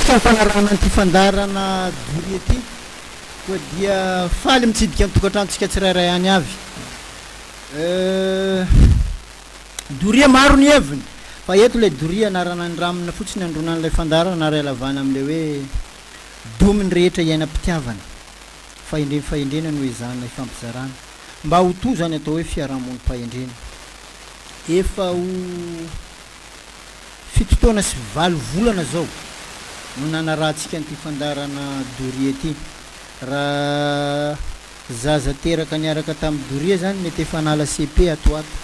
Fampanarahana an'ity fandaharana Doria ity koa dia faly mitsidika ny tokantranontsika tsirairay any avy. Doria maro ny heviny fa eto ilay doria anarana ny ramina fotsiny andronan'ilay fandaharana ary alavana amin'ilay hoe domy ny rehetra iainam-pitiavana. Fahendren'ny fahendrena no ezahana hifampizarana mba ho toa izany atao hoe fiarahamonim-pahendrena. Efa ho. Fito taona sy valo volana zao no nanarahantsika an'ity fandaharana Doria ty. Raha zaza teraka niaraka tamin'i Doria zany mety efa hanala CP ato ato.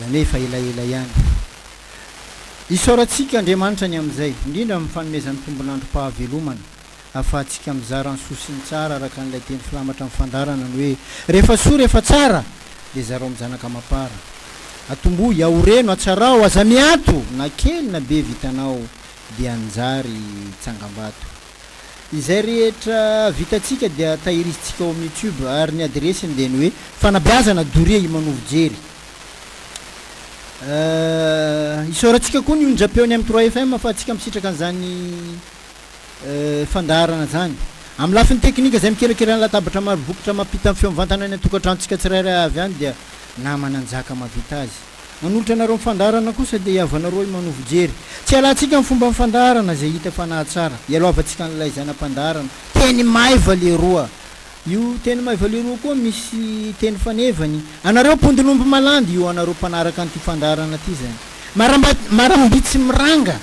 Zany hoe efa elaela ihany. Isaorantsika Andriamanitra ny amin'izay, indrindra amin'ny fanomezany tombon'androm-pahavelomana. ahafahantsika mizara ny soa sy ny tsara araka an'ilay teny filamatra amin'ny fandaharana ny hoe, Rehefa soa, rehefa tsara, dia zarao amin'ny zanaka amam-para. Atombohy, ahoreno, atsarao, aza miato, na kely na be vitanao dia hanjary tsangambato. Izay rehetra vitantsika dia tahirizintsika ao amin'ny YouTube ary ny adiresiny dia ny hoe, Fanabeazana, Doria Imanovo Jery. Isaorantsika koa ny onjam-peo ny M3FM ahafahantsika misitraka an'izany. fandaharana izany. Amin'ny lafiny teknika, izay mikerakera ny latabatra maro bokotra mampita ny feo mivantana any an-tokantranontsika tsirairay avy any dia namana njaka mahavita azy. Manolotra anareo ny fandaharana kosa dia hihavanareo i Manovo Jery. Tsy hialantsika ny fomban'ny fandaharana izay hita fa nahatsara. Hialohavantsika an'ilay zaina mpandaharana. Teny maiva leroa. Io teny maiva leroa koa misy teny fanevany. Anareo mpondin'omby malandy, io anareo mpanaraka an'ity fandaharana ity izany. Marambitsy miranga.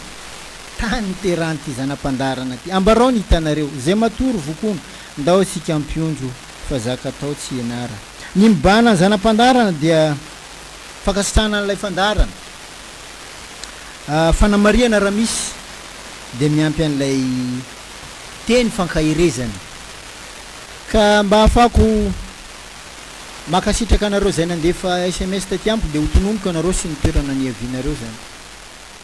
Tany niterahan'ity zana-pandaharana ity. Ambarao ny hitanareo, izay matory vokono, ndao isika hampionjo fa zaka atao tsy hianara. Ny mibahana ny zana-pandaharana dia fankasitrahana an'ilay fandaharana. Fanamarihana raha misy dia miampy an'ilay teny fankaherezana. Ka mba ahafahako mankasitraka anareo izay nandefa sms taty amiko dia ho tononiko anareo sy ny toerana niavianareo izany.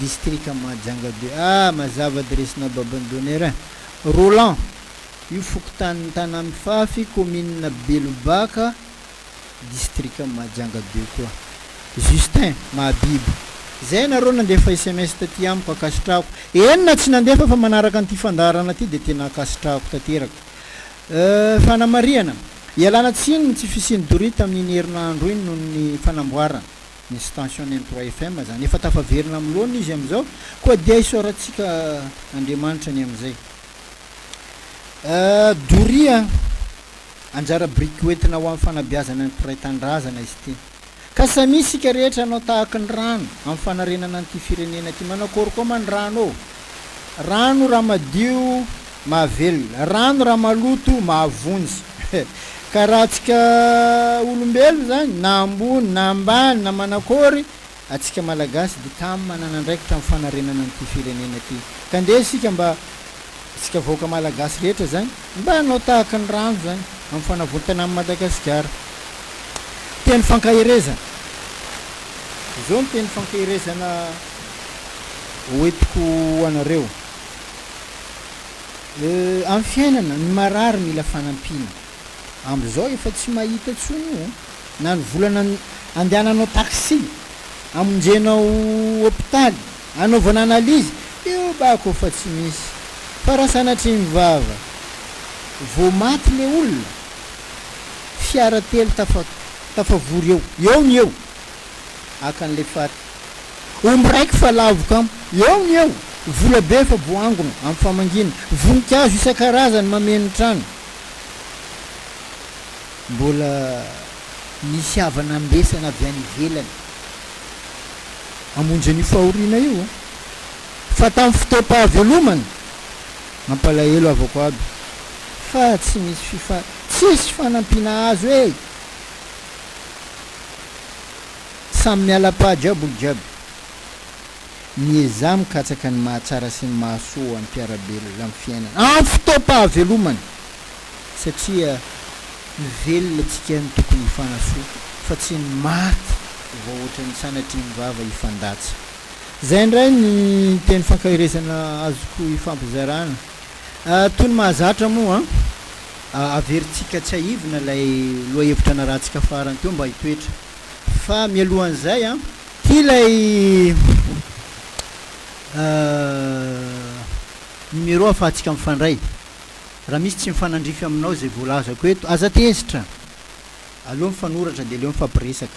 distrika Mahajanga be. Ah! Mazava dresina Babandonera eh! Roland, io fokontanin'i Tanamifafy, kaominina Belobaka, distrika Mahajanga be koa. Justin, Mahabibo. Zay nareo nandefa sms taty amiko, akasitrahako. Eny na tsy nandefa fa manaraka an'ity fandaharana ity dia tena akasitrahako tanteraka. Euh, fanamarihana, ialana tsiny ny tsy fisian'i Doria tamin'iny herinandro iny noho ny fanamboarana. ny station ny mtro FM zany efa tafaverina am loana izy am zao koa dia isaorantsika Andriamanitra ny amzay euh doria anjara biriky hoentina ho am fanabeazana ny mpiray tandrazana izy ty ka samia isika rehetra anao tahaky ny rano am fanarenana anty firenena ty manao akory koa ma ny rano ô Rano raha madio mahavelona, rano raha maloto mahavonjy. Ka raha antsika olombelona izany, na ambony na ambany na manakory, antsika Malagasy dia tam manana andraikitra amin'ny fanarenana an'ity firenena ity. Ka ndeha isika mba, isika vahoaka Malagasy rehetra izany, mba hanao tahaka ny rano izany amin'ny fanavontana an'i Madagasikara. Teny fankaherezana. Izao ny teny fankaherezana. hoentiko ho anareo. Amin'ny fiainana, ny marary mila fanampiana. Amzao efa tsy mahita tsony io na ny volana andehananao taxi, amonjenao hopitaly, anaovana analyse, io bako fa tsy misy. Fa raha sanatria mivava, vao maty le olona, fiara telo tafavory eo, eo no eo, Haka an'ilay fat. Omby raiky fa lavo kamo. Eo ny eo. Vola be fa boangona, amin'ny famangiana. Voninkazo isan-karazany mameno ny trano. Mbola misy havana ambesana avy any ivelany hamonjy an'io fahoriana io. Fa tamin'ny fotoam-pahavelomana, mampalahelo havako aby. Fa tsy misy fifa. Tsisy fanampiana azo e! Samy miala paha jiaby olo jiaby. Miezaha mikatsaka ny mahatsara sy ny mahasoa ho an'ny mpiara-belona amin'ny fiainana amin'ny fotoam-pahavelomana satria ny velona tsika no tokony hifanasoa fa tsy ny maty vao ohatran'ny sanatrian'ny vava hifandatsa. Zay indray ny teny fankaherezana azoko ifampizarana. Toy ny mahazatra moa, averintsika tsiahivina ilay lohahevitra narahantsika farany teo mba hitoetra. Fa mialohan'izay, tia ilay numéro ahafahantsika mifandray. Raha misy tsy mifanandrify aminao izay voalazako eto, aza tezitra. Aleo mifanoratra dia aleo mifampiresaka.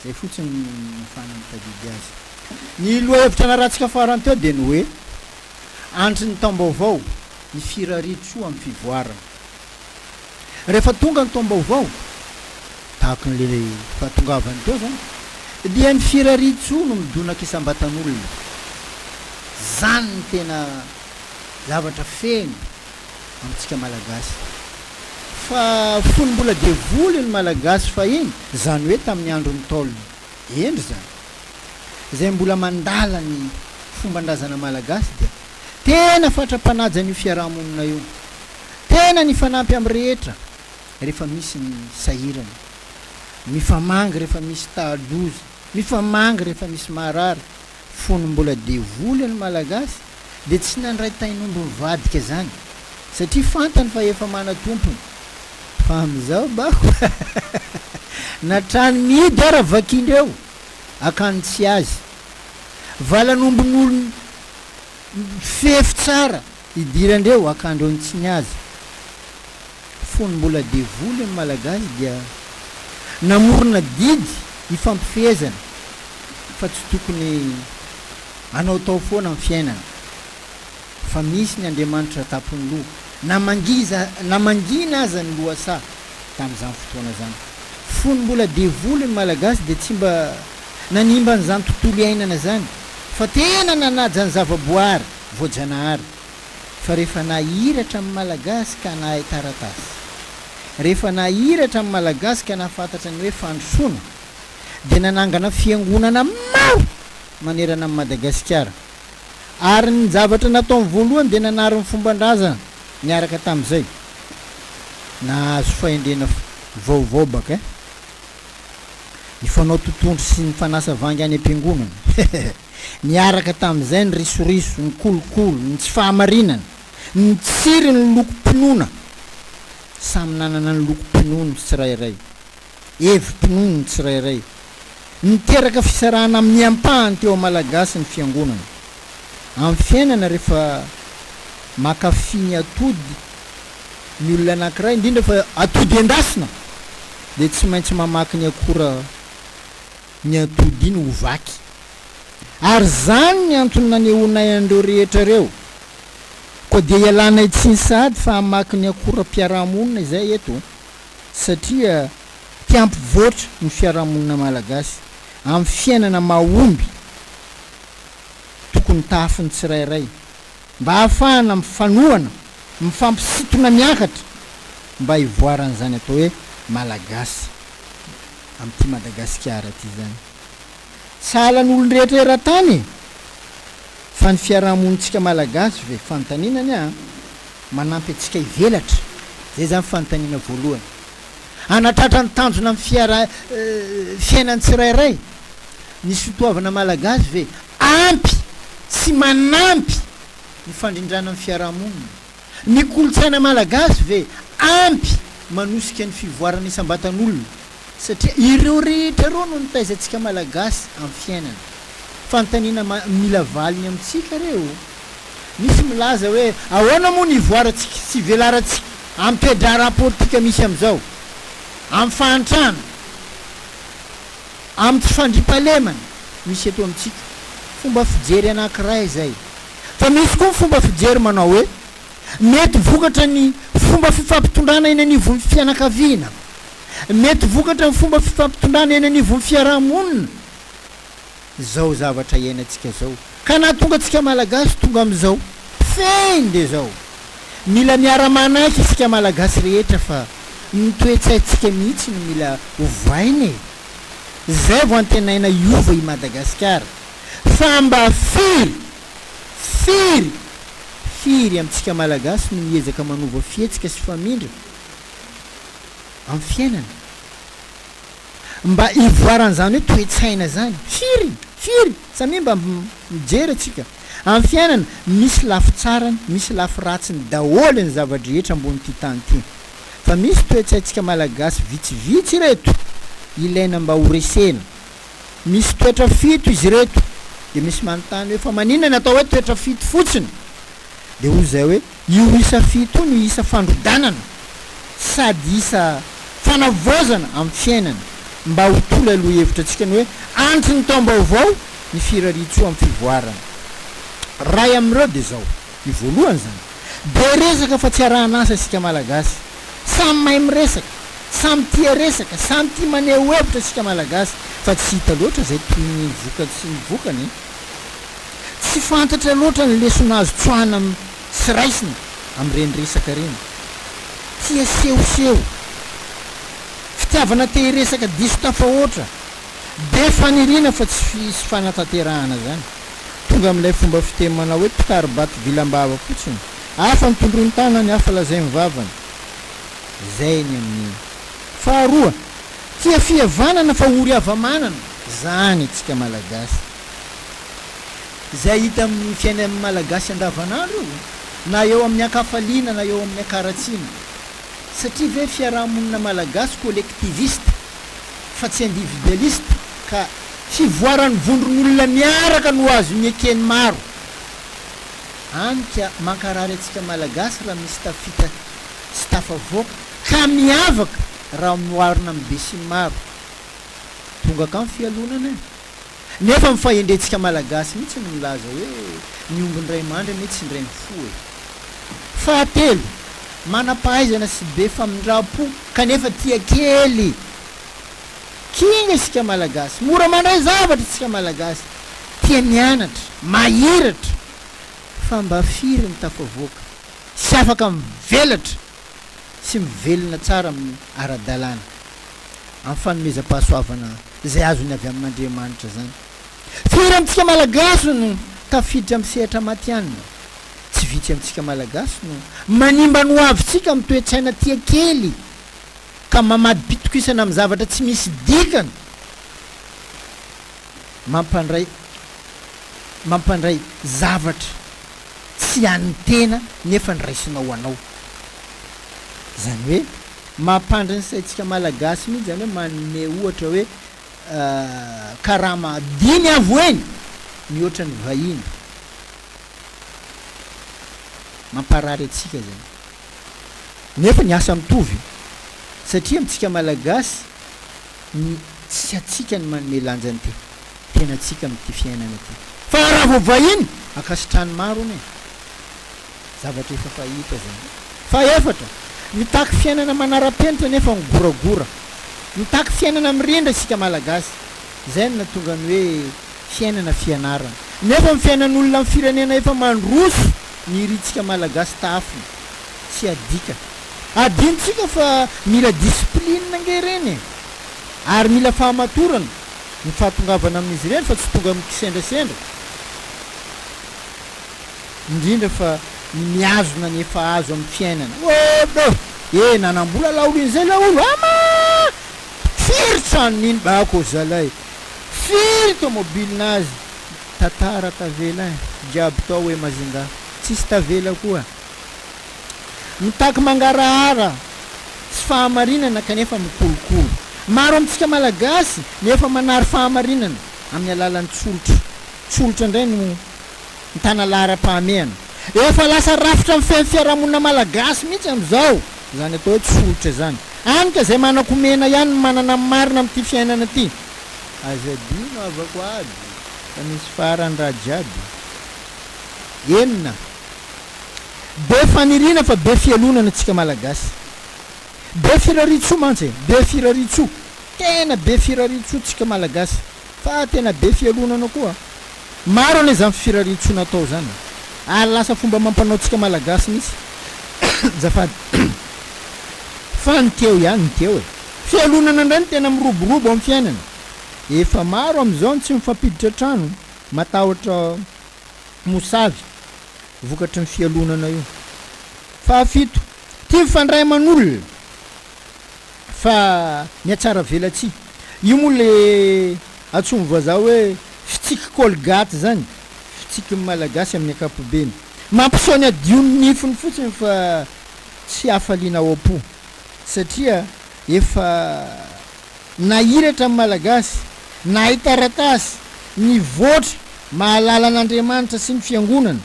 Izay fotsiny no nahafahana nitadidy azy. Ny lohahevitra narahantsika farany teo dia ny hoe, Andry ny taom-baovao, ny firarian-tsoa amin'ny fivoarana. Rehefa tonga ny taom-baovao, tahaka ilay fahatongavany teo izany, dia ny firarian-tsoa no midonaka isam-batan'olona. Izany no tena zavatra feno. amintsika Malagasy. Fa fony mbola devoly ny Malagasy fahiny, izany hoe tamin'ny andron'ny Ntaolo hendry izany, izay mbola mandala ny fomban-drazana Malagasy dia tena fatra-panaja an'io fiaraha-monina io. Tena nifanampy amin'ny rehetra rehefa misy ny sahirana, mifamangy rehefa misy taha-doza, mifamangy rehefa misy marary. Fony mbola devoly ny Malagasy dia tsy nandray tain'omby mivadika zany satria fantany fa efa manatompony fa amizao bako na trano mihidy ara vakindreo akany tsy azy valan'ombin'olon fefy tsara Idiran-dreo akandro ny tsy ny azy. Fony mbola devoly ny Malagasy dia namorona didy ifampifehezana fa tsy tokony anaotao foana ny fiainana fa misy ny Andriamanitra tapon'ny loha na mangiza na mangina aza ny lohasaha tamin'izany fotoana izany. Fony mbola devoly ny Malagasy dia tsy mba nanimba an'izany tontolo iainana izany fa tena nanaja ny zavaboary. Voajanahary fa rehefa nahiratra amin'ny Malagasy ka nahay taratasy, rehefa nahiratra amin'ny Malagasy ka nahafantatra ny hoe fandrosoana, dia nanangana fiangonana maro manerana an'i Madagasikara. Ary ny zavatra nataony voalohany dia nanary ny fomban-drazana niaraka tamin'izay. Nahazo fahendrena vaovao baka ny fanao totohondry sy ny fanasa vangy any am-piangonana. Niaraka tamin'izay ny risoriso, ny kolikoly, ny tsy fahamarinana, ny tsirin'ny lokom-pinoana. Samy nanana ny lokom-pinoany ny tsirairay, hevi-pinoany ny tsirairay. Niteraka fisarahana amin'ny ampahany teo Malagasy ny Fiangonana. Amin'ny fiainana rehefa mankafy ny atody ny olona anankiray, indrindra fa atody endasina, dia tsy maintsy mamaky ny akora. ny atody iny ho vaky. Ary izany ny antony nanehoanay an'ireo rehetra ireo. Koa dia ialanay tsiny sahady fa hamaky ny akoram-piarahamonina izay eto, satria te hampivoatra ny fiarahamonina malagasy amin'ny fiainana mahomby tokony tahafin'ny tsirairay mba hahafahana mifanohana, mifampisintona miakatra mba hivoaran'izany atao hoe Malagasy amin'ity Madagasikara ity izany. Sahala ny olon-drehetra eran-tany e! Fa ny fiaraha-monintsika Malagasy ve? Fanontaniana anie an! Manampy antsika hivelatra, izay izany fanontaniana voalohany. Hanatratra ny tanjona amin'ny fiaraha, fiainan'ny tsirairay. Ny sotoavina malagasy ve ampy sy manampy ny fandrindrana ny fiarahamonina? Ny kolontsaina malagasy ve ampy manosika ny fivoarana isam-batan'olona? Satria ireo rehetra ireo no nitaizantsika malagasy amin'ny fiainana. Fanontaniana mila valiny amintsika ireo. Misy milaza hoe ahoana moa ny ivoarantsika sy ivelarantsika amin'ny toe-draharaha politika misy amin'izao amin'ny fahantrana? Amin'ny fandriampahalemana misy eto amintsika, fomba fijery anankiray izay. Fa misy koa ny fomba fijery manao hoe, mety vokatra ny fomba fifampitondrana eny anivon'ny fianakaviana, mety vokatra ny fomba fifampitondrana eny anivon'ny fiaraha-monina izao zavatra iainantsika izao. Ka nahatonga antsika Malagasy tonga amin'izao fehiny dia izao. Mila miara-manaiky isika Malagasy rehetra fa ny toe-tsaintsika mihitsy no mila ovaina e! Izay vao antenaina hiova i Madagasikara. Fa mba firy, firy, firy amintsika Malagasy no miezaka manova fihetsika sy famindra amin'ny fiainana? mba hivoaran'izany hoe toe-tsaina izany. Firy? Firy? Samia mba mijery antsika. Amin'ny fiainana, misy lafy tsarany, misy lafy ratsiny daholo ny zava-drehetra ambonin'ity tany ity. Fa misy toe-tsaintsika Malagasy vitsivitsy ireto ilaina mba ho resena. Misy toetra fito izy ireto. Dia misy manontany hoe fa maninona ny atao hoe toetra fito fotsiny? Dia hoy izay hoe. Io isa fito io no isa fandrodanana sady isa fanavaozana amin'ny fiainana mba ho toa ilay lohahevitra antsika ny hoe andry ny taom-baovao ny firariantsoa amin'ny fivoarana. Ray amin'ireo dia izao, io voalohany izany. Be resaka fa tsy arahan'asa isika Malagasy. Samy mahay miresaka, samy tia resaka, samy tia maneho hevitra isika Malagasy fa tsy hita loatra izay tohin'ny vokany sy ny vokany e! Tsy fantatra loatra ny lesona azo tsoahina sy raisina amin'ireny resaka ireny. Tia sehoseho, fitiavana te hiresaka diso tafahoatra, be faniriana fa tsy hisy fanatanterahana izany. Tonga amin'ilay fomba fiteny manao hoe mpitari-bato vilam-bava fotsiny, hafa ny tondroin-tanany, hafa lazain'ny vavany. Izay ny amin'ny. Faharoa, tia fihavanana fa ory hava-manana izany isika Malagasy. izay hita amin'ny fiainan'ny Malagasy andavanandro io, na eo amin'ny an-kafaliana na eo amin'ny an-karatsiana. Satria ve fiaraha-monina Malagasy collectiviste fa tsy individualiste ka. Fivoaran'ny vondron'olona miaraka no azon'ny eken'ny maro. Any ka mankarary antsika Malagasy raha misy tafita sy tafavoaka ka miavaka raha mioarina amin'ny besinimaro. Tongaka ny fialonana e! Nefa ny fahendrentsika Malagasy mihitsy no milaza hoe ny omby indray mandry anie tsy indray mifoha e! Fahatelo, manam-pahaizana sy be famindram-po kanefa tia kely. Kinga isika Malagasy, mora mandray zavatra isika Malagasy, tia mianatra, mahiratra, fa mba firy no tafavoaka sy afaka mivelatra? sy mivelona tsara amin'ny ara-dalàna, amin'ny fanomezam-pahasoavana izay azony avy amin'Andriamanitra izany. Firy amintsika Malagasy no tafiditra amin'ny sehatra matihanina? Tsy vitsy amintsika Malagasy no manimba ny hoavintsika amin'ny toe-tsaina tia kely ka mamadim-pitokisana amin'ny zavatra tsy misy dikany mampandray mampandray zavatra tsy an'ny tena nefa niraisinao ho anao. Izany hoe mampandry ny saintsika malagasy mihitsy izany hoe manome ohatra hoe karama dimy avo eny mihoatra ny vahiny. Mamparary antsika izany. Nefa ny asa mitovy satria amintsika malagasy tsy hatsika ny manome lanja ny tena. tenantsika amin'ity fiainana ity. Fa raha vao vahiny, ankasitrahan'ny maro hono e! Zavatra efa fahita izany. Fahefatra, mitaky fiainana manara-penitra nefa migoragora. Mitaky fiainana mirindra isika Malagasy. Izay no nahatonga ny hoe fiainana fianarana. Nefa ny fiainan'olona amin'ny firenena efa mandroso ny irintsika Malagasy tahafina. Tsy adika. Adinontsika fa mila discipline ange ireny e! Ary mila fahamatorana. ny fahatongavana amin'izy ireny fa tsy tonga amin'ny kisendrasendra, indrindra fa ny mihazona ny efa azo amin'ny fiainana. Oh oh! E! Nanam-bola laolin'izay laolo a! Ama! Firy trano niniba ako zalahy! Firy tomobily nazy! Tantara tavela jiaby tao hoe Majinga! Tsisy tavela koa! Mitaky mangarahara tsy fahamarinana kanefa mikolokolo. Maro amintsika Malagasy no efa manary fahamarinana amin'ny alalan'ny tsolotro. Tsolotro indray no mitana laharam-pahamehana. Efa lasa rafitra mifehy fiarahamonina Malagasy mihitsy amin'izao izany atao hoe tsolotro izany. Any ka izay manan-komena ihany no manana ny marina amin'ity fiainana ity. Aza adino havako ady fa misy farany raha jiaby. Enina. Be faniriana fa be fialonana tsika malagasy. Be firariantsoa mantsy e, be firariantsoa, tena be firariantsoa tsika malagasy fa tena be fialonana koa. Maro anie zany firariantsoa natao zany e. Ary lasa fomba amam-panao tsika malagasy mitsy zafady fa ny teo ihany ny teo e. Fialonana ndray no tena miroborobo am fiainana. Efa maro am zao ny tsy mifampiditra trano, matahotra mosavy vokatry ny fialonana io. Fahafito, tia mifandray aman'olona fa mihatsaravelatsihy. Io moa le antsoin'ny vazaha hoe fitsiky colgate zany, fitsiky ny malagasy amin'ny ankapobeny. Mampiseho ny hadion'ny nifiny fotsiny fa tsy hafaliana ao am-po satria efa Na iratra ny Malagasy, nahay taratasy, nivoatra, mahalala an'Andriamanitra sy ny Fiangonana.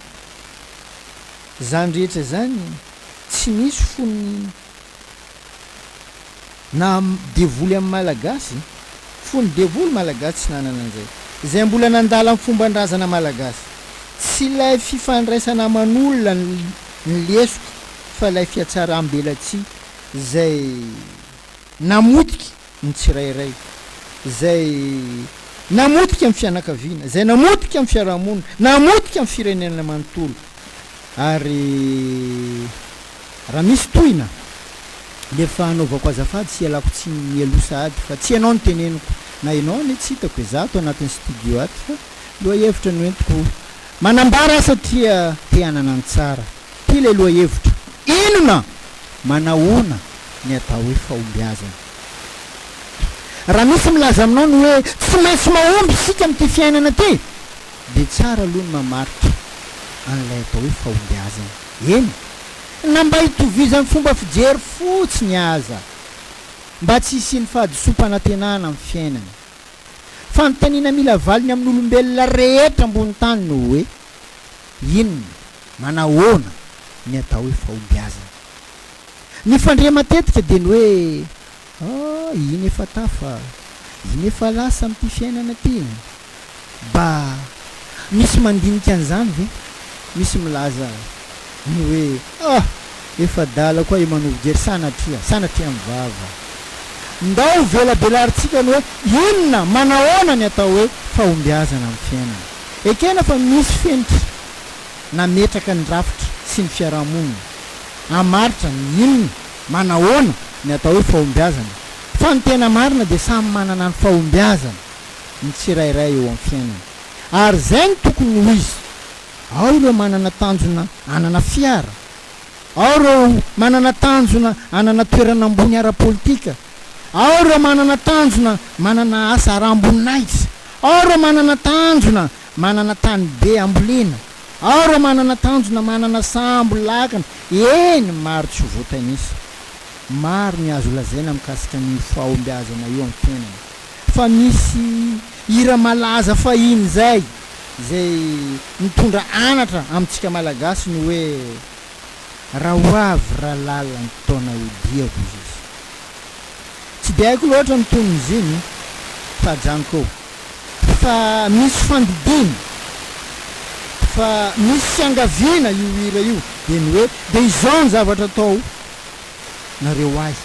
Izany rehetra izany, tsy nisy fony naha devoly an'ny Malagasy, fony devoly Malagasy tsy nanana an'izay. Izay mbola nandala ny fomban-drazana Malagasy. Tsy ilay fifandraisana aman'olona no lesoka fa ilay fihatsaram-belatsihy izay. namotika ny tsirairay, izay namotika ny fianakaviana, izay namotika ny fiarahamonina, namotika ny firenena manontolo. Ary raha misy tohina dia efa anaovako azafady sy ialako tsiny mialoha sahady fa tsy ianao no teneniko, na ianao anie tsy hitako e, za ato anatin'ny studio ato fa lohahevitra no entiko manambara satria te hanana ny tsara Ty le lohahevitra. Inona? Manahoana ny atao hoe fahombiazana? Raha misy milaza aminao ny hoe tsy maintsy mahomby isika amin'ity fiainana ity, dia tsara aloha ny mamaritra an'ilay atao hoe fahombiazana, eny, na mba hitovizan'ny fomba fijery fotsiny aza, mba tsy hisian'ny fahadisoam-panantenana amin'ny fiainana. Fanontaniana mila valiny amin'olombelona rehetra ambonin'ny tany no hoe, Inona? Manahoana ny atao hoe fahombiazana? Ny fandre matetika dia ny hoe, Ah, iny efa tafa, iny efa lasa amin'ity fiainana ity. Ba, misy mandinika an'izany ve? Misy milaza ny hoe, Ah, efa adala koa i Manovo Jery, sanatria, sanatria mivava. Ndao hovelabelarintsika ny hoe inona, manahoana ny atao hoe fahombiazana amin'ny fiainana. Ekena fa misy fenitra nametraka ny rafitra sy ny fiarahamonina. Hamaritra ny inona, manahoana, ny atao hoe fahombiazana. Fa ny tena marina dia samy manana ny fahombiazany ny tsirairay eo amin'ny fiainany. Ary izay no tokony ho izy. Ao ireo manana tanjona hanana fiara. Ao ireo manana tanjona hanana toerana ambony ara-politika. Ao ireo manana tanjona manana asa aram-boninahitra. Ao ireo manana tanjona Manana tany be ambolena. Ao ireo manana tanjona, manana sambo, lakana, eny, maro tsy ho voatanisa. Maro ny azo lazaina mikasika an'io fahombiazana io amin'ny tenany. Fa misy hira malaza fahiny izay, izay nitondra anatra amintsika Malagasy ny hoe, Raha ho avy ralala ny taona hodiako, hoy izy. Tsy dia haiko loatra ny tonon'iziny fa ajanoko eo. Fa misy fandidiana, fa misy fiangaviana io hira io dia ny hoe dia izao ny zavatra atao nareo ahy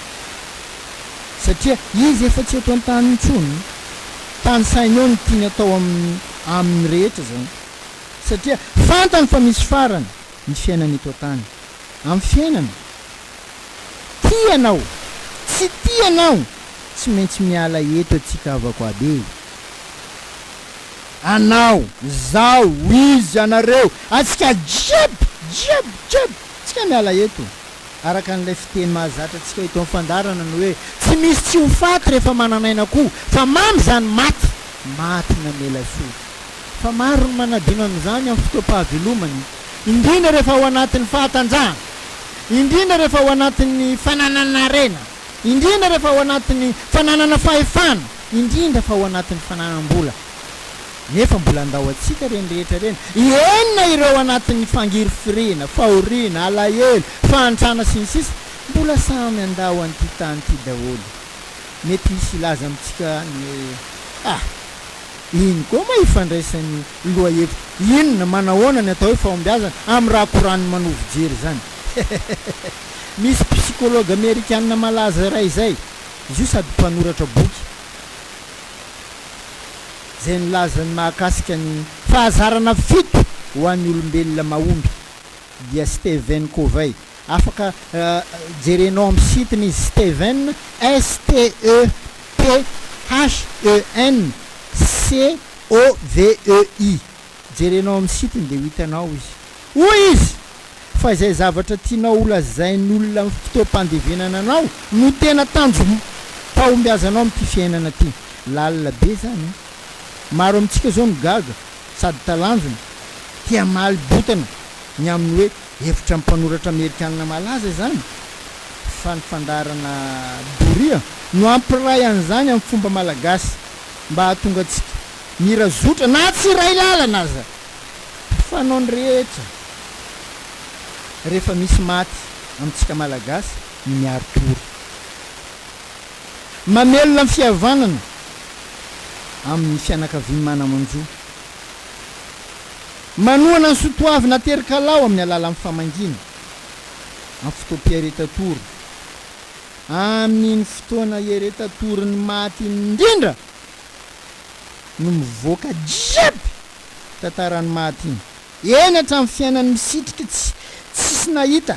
satria izy efa tsy eto an-tany intsony, tanisainy eo ny tiany atao amin'ny aminy rehetra izany satria fantany fa misy farany ny fiainana eto an-tany amin'ny fiainana. Tia anao, tsy tia anao tsy maintsy miala eto antsika havako aby e! Anao, zaho, izy, anareo, antsika jiaby, jiaby, jiaby, tsika miala eto! Araka an'ilay fiteny mahazatra antsika eto amin'ny fandaharana ny hoe, tsy misy tsy ho faty rehefa manan'aina koa, fa mamy izany maty, maty namela sofy. Fa maro ny manadino an'izany amin'ny fotoam-pahavelomany, indrindra rehefa ao anatin'ny fahatanjahana. indrindra rehefa ao anatin'ny fananana harena, indrindra rehefa ao anatin'ny fananana fahefana, indrindra fa ao anatin'ny fananam-bola. Nefa mbola handao antsika ireny rehetra ireny, enina ireo ao anatin'ny fangirifiriana, fahoriana, alahelo, fahantrana sy ny sisa, mbola samy handao an'ity tany ity daholo. Mety hisy hilaza amintsika any hoe, ah! iny koa moa ifandraisan'io Lohahevitra, Inona, manahoana ny atao hoe fahombiazana amin'ny raha koran'ny manoa fijery izany? Hehehehe! Misy psikology amerikanina malaza iray izay, izy io sady mpanoratra boky, izay nilaza ny mahakasika ny fahazarana fito ho an'ny olombelona mahomby, dia Stephen Covey. Afaka jerenao amin'ny site-ny izy, Stephen, S-T-E-P-H-E-N, C OVEI, jerenao amin'ny site-ny dia ho hitanao izy. Hoy izy fa izay zavatra tianao holazain'olona amin'ny fotoam-pandevenana anao no tena tanjom-pahombiazanao amin'ity fiainana ity. Lalina be izany an! Maro amintsika izao no gaga sady talanjona, te hamaly botana ny amin'ny hoe hevitra mpanoratra amerikanina malaza izany, fa ny fandaharana doria no hampiray an'izany amin'ny fomba malagasy. mba hahatonga antsika mira zotra na tsy iray lalana aza Tsy fanao ny rehetra rehefa misy maty amintsika Malagasy ny miaro tory Mamelona ny fihavanana amin'ny fianakavian'ny manamanjo Manohana ny sotoavina aterikalao amin'ny alalan'ny famangiana amin'ny fotoam-piaretan-tory Amin'iny fotoana iareta torin'ny maty iny indrindra no mivoaka jiaby tantaran'ny maty iny, eny hatramin'ny fiainan'ny misitriky tsy tsisy nahita,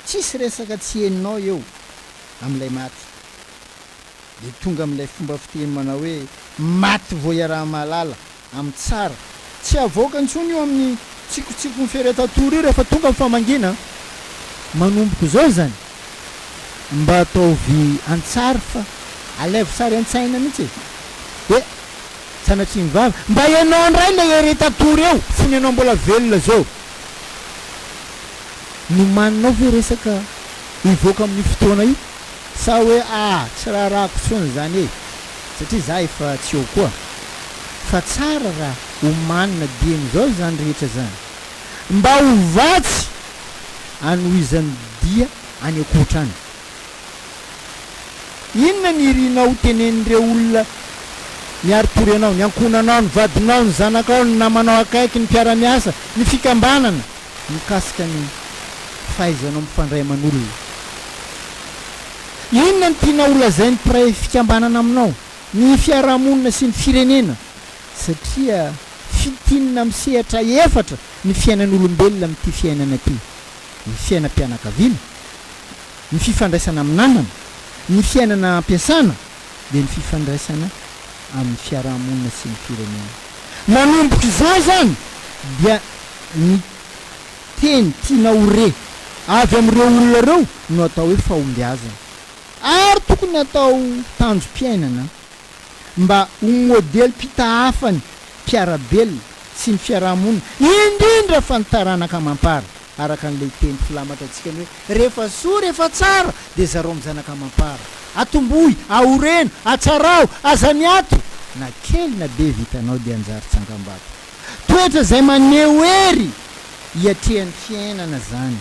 tsisy resaka tsy henonao eo amin'ilay maty, dia tonga amin'ilay fomba fiteny manao hoe maty vao iaraha-mahalala. amin'ny tsara. Tsy havoaka intsony io amin'ny tsikotsikony fery atatory io rehefa tonga ny famangiana manomboka izao izany. Mba ataovy an-tsary fa alaivo sary an-tsaina mihitsy e! Dia sanatria mivava mba ianao indray ilay ery atatory eo fony ianao mbola velona izao. Nomaninao ve resaka hivoaka amin'io fotoana io? Sa hoe ah tsy raharahako tsony zany e satria za efa tsy eo koa. Fa tsara ra omanina dieny zao izany rehetra zany mba ho vatsy anohizan'ny dia any ankoatra any. Inona ny irinao ho tenenin'ireo olona miari-tory anao, ny ankohonanao, ny vadinao, ny zanakao, ny namanao akaiky, ny mpiara-miasa, ny fikambanana, mikasika ny fahaizanao mifandray aman'olona. Inona no tianao holazain'ny mpiray fikambanana aminao, ny fiarahamonina sy ny firenena, satria fintinina amin'ny sehatra efatra ny fiainan'olombelona amin'ity fiainana ity, ny fiainam-pianakaviana, ny fifandraisana amin'ny namana, ny fiainana ampiasana, dia ny fifandraisana amin'ny fiaraha-monina sy ny firenena. Manomboka izany izany dia ny teny tiana ho re avy amin'ireo olona ireo no atao hoe fahombiazana ary tokony atao tanjom-piainana mba ho modelim-pitahafany mpiara-belona sy ny fiaraha-monina indrindra fa ny taranaka amam-para. araka an'ilay teny filamatra antsika ny hoe, Rehefa soa, rehefa tsara, dia zarao amin'ny zanaka amam-para. Atombohy, aoreno, atsaraho, aza miato! Na kely na be vitanao dia hanjary tsangambato. Toetra izay maneho hery iatrehan'ny fiainana izany.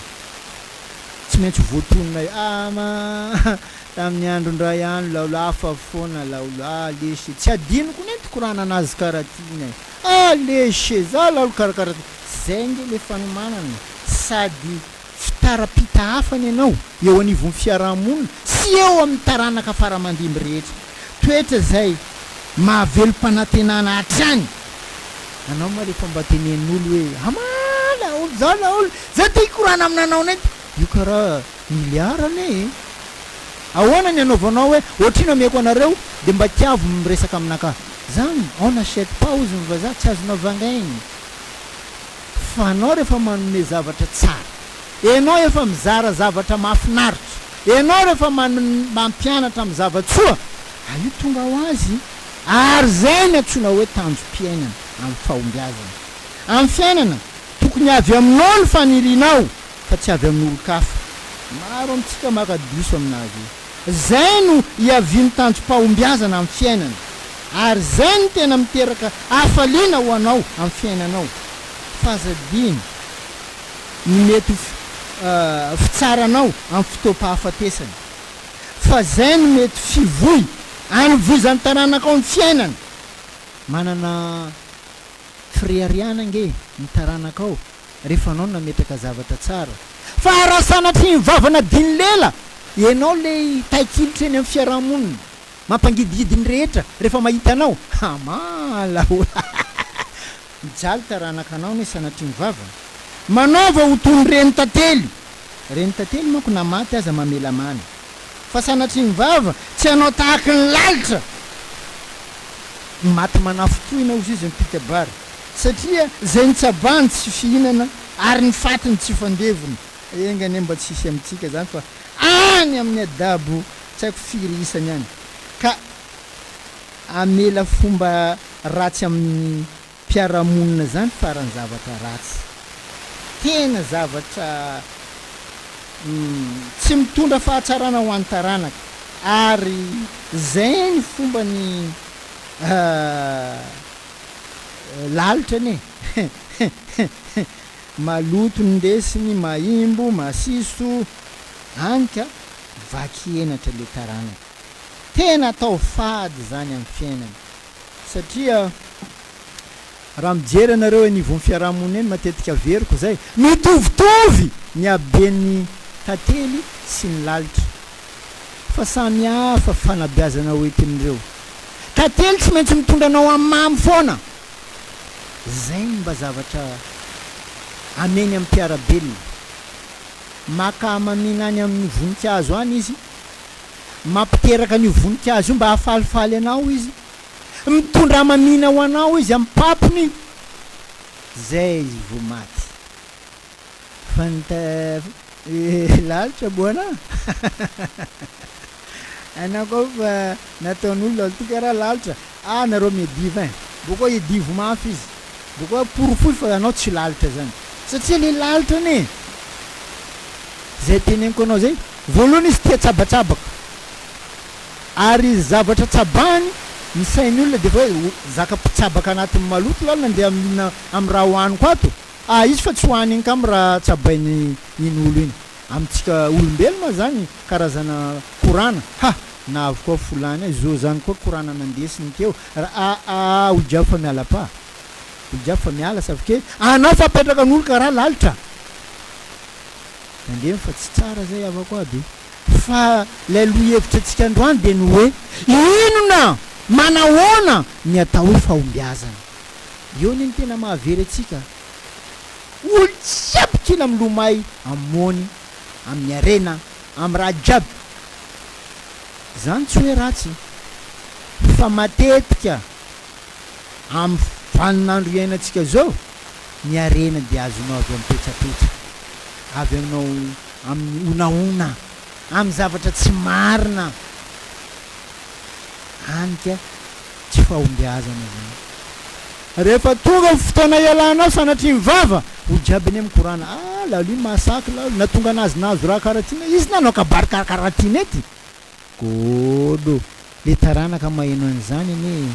Tsy maintsy ho voatonona eo. Ama, tamin'ny andron-dRay any, Laolo, hafa foana, Laolo, ah, lesy e! Tsy hadinoko ny nitokorana an'azy karaha tiana e! Alléche za la lo karakara ty. Zay nge le fanomanana e, sady fitara-pita hafa ny anao eo anivon'ny fiaraha-monina sy eo amin'ny taranaka faramandimby rehetra. Toetra zay mahavelom-panantenana hatrany anao ma rehefa mba tenen'olo hoe, ama la olo za la olo za te hikorana aminanao net io karaha. Milliard anie e! Ahoana ny anaovanao hoe ohatrino ameko anareo dia mba tiavo miresaka aminaka zany? On n'achète pas hozy ny vazaha, tsy azonao vangaina fa anao rehefa manome zavatra tsara, enao efa mizara zavatra mahafinaritra, enao rehefa mampianatra amin'ny zavatsoa ah io tonga ho azy ary zay no antsoina hoe tanjom-piainana amin'ny fahombiazana amin'ny fiainana, tokony avy aminao ny fanirianao fa tsy avy amin'olon-kafa. Maro amintsika maka diso amin'azy io. Izay no iavian'ny tanjom-pahombiazana amin'ny fiainana, ary izay no tena miteraka hafaliana ho anao amin'ny fiainanao. F'aza adino ny mety ho fitsaranao amin'ny fotoam-pahafatesana, fa izay no mety fivoy anovozan'ny taranakao ny fiainana. Manana fireharehana ange ny taranakao. rehefa anao no nametraka zavatra tsara fa raha sanatria nivava nadino lela ianao le taikilitra eny amin'ny fiarahamonina mampangidigidy ny rehetra rehefa mahita anao hamala hohahaha mijaly taranaka anao anie sanatria nivava manaova ho toy ny reny tantely reny tantely manko na maty aza mamela mana fa sanatria nivava tsy hanao tahaky ny lalitra ny maty manafitohina hozy izy mipika-bary. satria zay nitsabahany tsy fihinana ary ny fatiny tsy fandevona enga anie mba tsy hisy amintsika zany fa any amin'ny adabo tsy haiko firy isany any ka amela fomba ratsy amin'ny mpiaramonina zany farany zavatra ratsy tena zavatra tsy mitondra fahatsarana ho an'ny taranaka ary zay ny fombany lalitra anie maloto ny lesiny mahimbo masiso any ka vaky henatra le taranaka tena atao fady zany am fiainana satria raha mijery anareo eny ivon fiarahamonina eny matetika averiko zay mitovitovy ny habeny tantely sy ny lalitra fa samy hafa fanabeazana ho entin'ireo tantely tsy maintsy mitondra anao amin'ny mamy foana zay ny mba zavatra ameny amin'ny mpiara-belona maka hamamiana any amin'ny voninkazo any izy mampiteraka an'io voninkazo io mba hahafalifaly anao izy mitondra hamamiana ho anao izy amin'ny papony zay izy vao maty Fa ny ta lalitra bona hainao koa fa nataon'olona olo ty karaha lalitra ah nareo media fa boko hidivo mafy izy boko porofoy fa anao tsy lalitra zany satsia le lalitra anie zay teneniko anao zay voalohany izy tia tsabatsabaka ary zavatra tsabahany ny sain'ny olona de fa hoe zaka mpitsabaka anatin'ny maloto lalo nandeha amina amin'ny raha hohaniko ato Ah izy fa tsy ho any angamba raha tsabainy iny olo iny. Amintsika olombelona zany karazana korana ha! na avokoa fo lany a! zo zany koa korana nandesiny teo ra a a a! ho jiaby fa miala pa ho jiaby fa miala sa vke anao fa apetraka nolo ka ra lalitra tandremo fa tsy tsara zay havako aby fa lay lohevitra antsika androany de ny hoe inona manahoana ny atao hoe fahombiazana Eo ny ny tena mahavery antsika olo jiaby kina milomay am mony amin harena am raha jiaby zany tsy hoe ratsy fa matetika am vanin andro iainantsika zao ny harena dia azonao avy am petrapetra avy aminao am ny honahona am zavatra tsy marina any ka tsy fahombiazana izany. Rehefa tonga ny fotoana hialanao sanatria ny vava, hoy Jabine mikorana, Ah, Lalu, mahasaky Lalu, na tonga nazy nahazo raha karaha ty ne, izy nanao kabary karakaraha ty ne ty! Golo, le taranaka maheno an'izany anie e!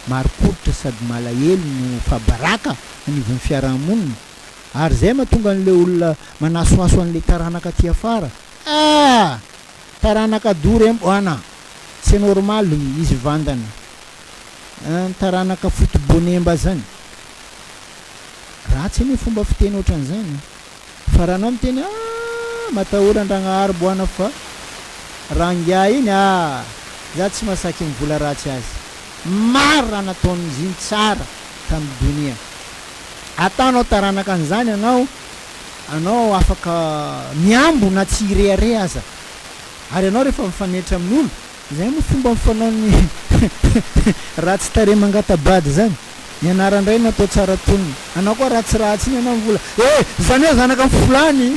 Marim-pototra sady malahelo no fahabaraka anivon'ny fiaraha-monina, ary izay mahatonga an'ilay olona manasohaso an'ilay taranaka aty afara, Ah! Taranaka dory em oana tsy normal ny izy vandana an taranaka foto bonemba zany ratsy anie fomba fiteny otranzany e fa raha anao miteny ah matahora andragnahary boana fa raha ngiahy iny ah za tsy masaky mivola ratsy azy maro raha nataony ziny tsara tam donia ataonao taranaka anzany anao anao afaka mihambo na tsy hirehareha aza. Ary ianao rehefa mifanetra amin'olo, izay moa fomba fanaon'ny ratsy tarehy mangata-bady izany, ny anaran-dray no atao tsara tonony. Anao koa ratsiratsy iny ianao mivola, eh! Izany hoe zanaka mivolany!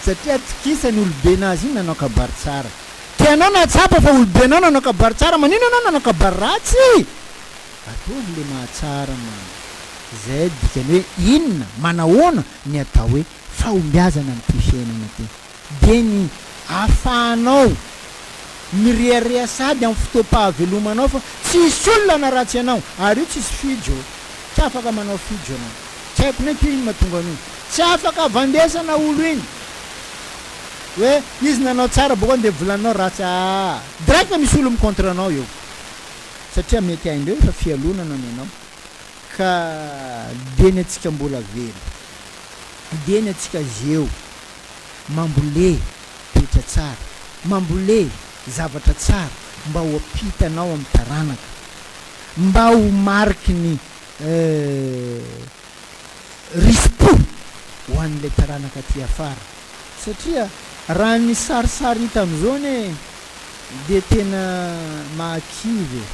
Satria atokisany olobe nazy iny nanao kabary tsara. Tianao na tsapa fa olobe anao nanao kabary tsara, maninona anao nanao kabary ratsy? Ataovy le mahatsara mama. Izay dikany hoe inona, manahoana ny atao hoe fahombiazana amin'ity fiainana ity? Dia ny ahafahanao mirehareha sady amin'ny fotoam-pahavelomanao fa tsy hisy olona hanaratsy anao. Ary io tsisy fijo, tsy afaka manao fijo ianao. Tsy haiko ny ankizy no mahatonga an'io. Tsy afaka avandesana olo iny hoe izy nanao tsara bokany dia volaninao ratsy, aa! Direct misy olo mi-contre anao eo. satria mety haindreo efa fialonana ny anao ka dieny atsika mbola velo dieny atsika zeo mambole toetra tsara mambole zavatra tsara mba ho ampitanao am taranaka mba ho mariky ny risim-po ho an'ilay taranaka aty afara satria raha ny sarisary hita amin'izao anie dia tena mahakivy e!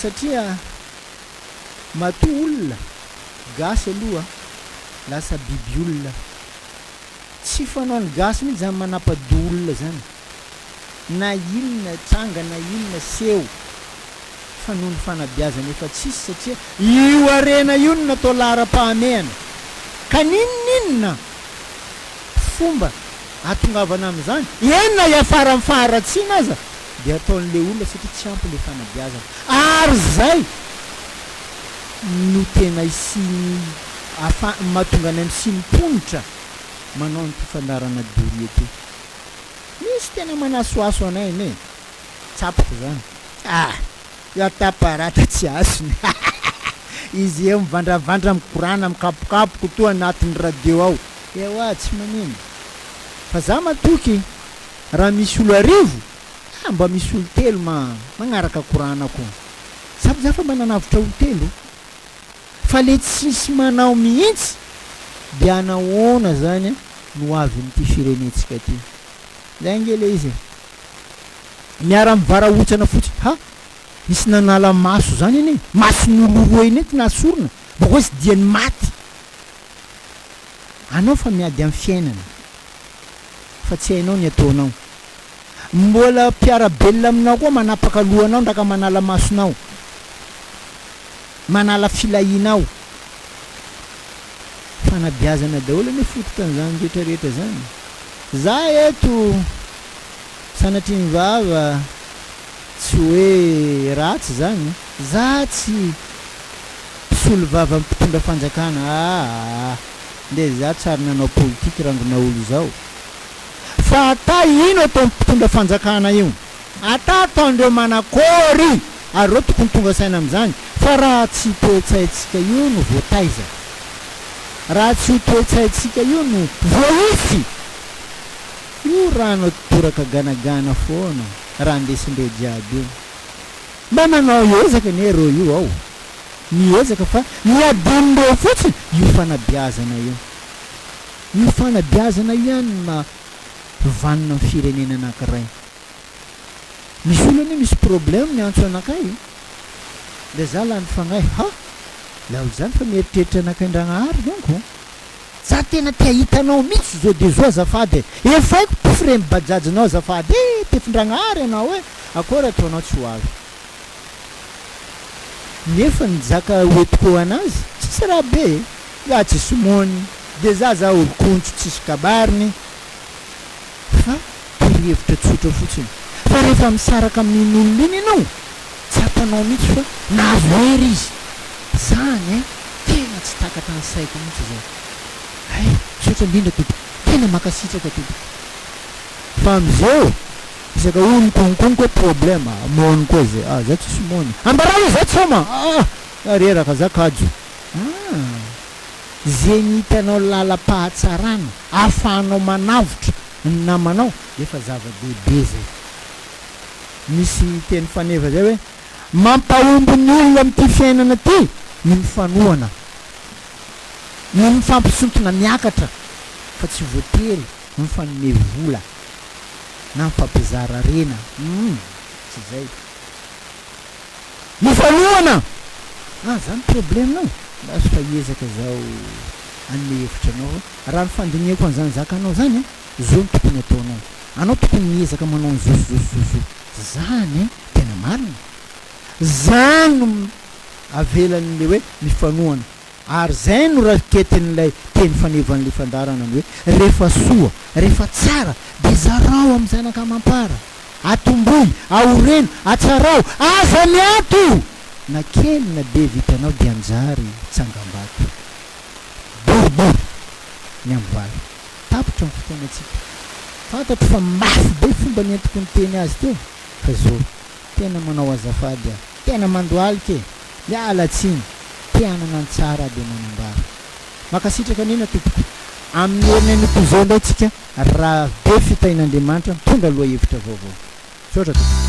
satria matoa olona gasy aloha lasa biby olona, tsy fanaon'ny gasy mihitsy izany manapa-doha olona izany na inona tranga na inona seho fa noho ny fanabeazana efa tsisy satria io harena io no natao laharam-pahamehana ka n'inon'inona fomba ahatongavana amin'izany eny na hiafara amin'ny faharatsiana aza dia ataon'ilay olona satria tsy ampy ilay fanabeazana ary izay no tena hisian'ny afa mahatonga anay misian'ny mponitra manao ny fifandaharana doria ity. Misy tena manasohaso anay anie e! Tsapako izany. Ah! Ya Taparata tsy hasina ah! Izy eo mivandravandra mikorana mikapokapoko toa anatin'ny radio ao. Ewa tsy manino. Fa za matoky raha misy olo arivo ah mba misy olo telo ma magnaraka korana ko. Tsapy za fa mba nanavotra olo telo. Fa le tsisy manao mihitsy dia nahoana zany no hoavin'ity firenentsika ity? Zay ange le izy e! Miara mivarahontsana fotsiny ha! Nisy nanala maso zany anie, mason'olo roa anie ty nasorina, boka hoe tsy dian'ny maty! Anao fa miady amin'ny fiainana fa tsy hainao ny ataonao. Mbola mpiara-belona aminao koa manapaka lohanao ndra ka manala masonao, manala filahianao. Fanabeazana daholo anie fototan'izany rehetra rehetra izany. Za eto sanatria ny vava tsy hoe ratsy izany, za tsy mpisolo vava mpitondra fanjakana aa, ndeha za tsary nanao politique rangona olo zao. Fa ata ino ataon mpitondra fanjakana io ata ataondreo manakôry ary reo tokony tonga saina amzany fa raha tsy toetsaintsika io no votaiza raha tsy io toetsaintsika io no voaisy io rano toraka ganagana fôna raha ndesindreo jiaby io mba manao ezaka anie reo io ao miezaka fa ny adinondreo fotsiny io fanabiazana io. Io fanabeazana io ihany no maha vanona ny firenena anankiray. Misy olona anie misy problème miantso anakay dia za lany fagnahy ha! Laolo zany fa mieritreritra anakay Ndragnahary donko! Za tena te ahita anao mitsy zo de zo azafady e! Efaiko pfre ny bajajinao azafady e! Tefy Ndragnahary anao e! Akôry ataonao tsy ho avy? Nefa ny jaka hoentiko anazy tsisy raha be e! Nga tsisy mony de za za olon-kontso tsisy kabariny fa torohevitra tsotra fotsiny fa rehefa misaraka amin'iny olona iny ianao tsapanao mihitsy fa nahazo hery izy zany e! Tena tsy takatra ny saiko mihitsy izao hay! Misaotra indrindra tompoko! Tena mankasitraka tompoko fa amizao Fisaka o ny konkonko hoe problema a! Moana koa izay a! Za tsisy moana a! Ambarao hoe za tsoma a! Ah! Za reraka, za kajo ah! Izay ny hitanao lalam-pahatsarana ahafahanao manavotra ny namanao dia efa zava-dehibe izay. Misy teny faneva izay hoe, mampahomby ny olona amin'ity fiainana ity ny mifanohana, ny mifampisintona miakatra fa tsy voatery Mifanome vola na mifampizara harena humm tsy izay ifanohana ah zany problème nao basy fa hiezaka zaho hanome hevitra anao fa raha ny fandinihako an'izany zakanao zany a zao no tokony ataonao anao tokony miezaka manao ny zo zo zo zo zany e tena marina zany no avelan'le hoe mifanohana Ary izay no raketin'ilay teny fanevan'ilay fandaharana ny hoe, rehefa soa, rehefa tsara, dia zarao amin'ny zanaka amam-para. Atombohy, aoreno, atsarao, aza miato! Na kely na be vitanao dia anjary tsangambato. Boribory ny amin'ny valo. Tapitra ny fotoanantsika. Fantatro fa mafy be fomba nentiko niteny azy teo, fa izao. Tena manao azafady aho. Tena mandohalika e! Miala tsiny. Te hanana ny tsara aho dia manambara. Mankasitraka Nina tompoko. Amin'ny heriny anio toy izao indray tsika raha be fitahian'Andriamanitra mitondra lohahevitra vaovao. Misaotra tompoko.